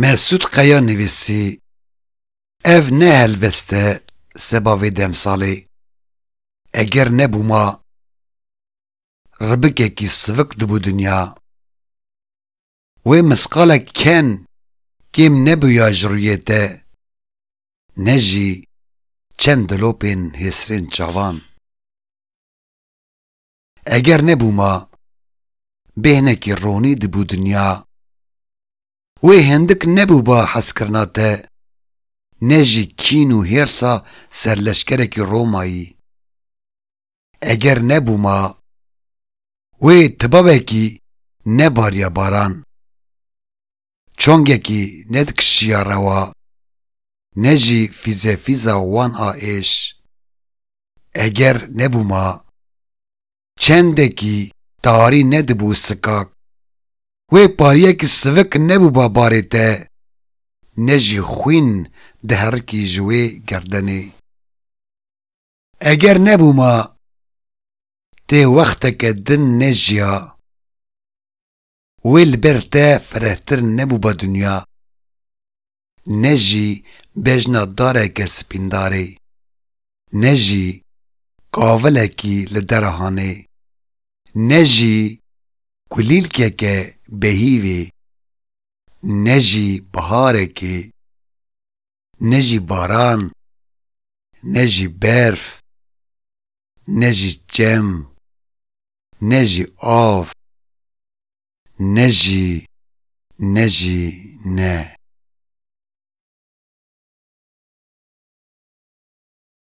Mesûd Qeya nivîsî, Ev ne helbest e seba vê demsalê, eger nebûma ribikekî sivik dibû dinya, wê misqalek ken kêm nebûya ji rûyê te ne jî çend dilopên hêsrên çavan. Eger nebû ma, bêhnekî ronî dibû dinya. Wê hindik nebû ba hezkirina te, ne jî kîn û hêrsa serleşkerekî Romayî. Eger nebû ma, wê tibabekî nebarîya baran. Çongekî ne di kişiya rewa, ne jî fîzefîza wan a êş, eger nebûma, çendekî tarî nedibû sikak. Wê pariyekî sivik nebûba barê te, ne jî xwîn diherikî ji wê gerdenê. Eger nebûma, tê wexteke din nejiya. Wê li ber te firehtir nebûba dinya, ne jî bejna dareke sipîndarê, ne jî kavilekî li derahanê, ne jî kulîlkeke behîvê, ne jî biharekê. ne jî baran, ne jî berf, ne jî çem, ne jî av, ne jî, ne jî, ne.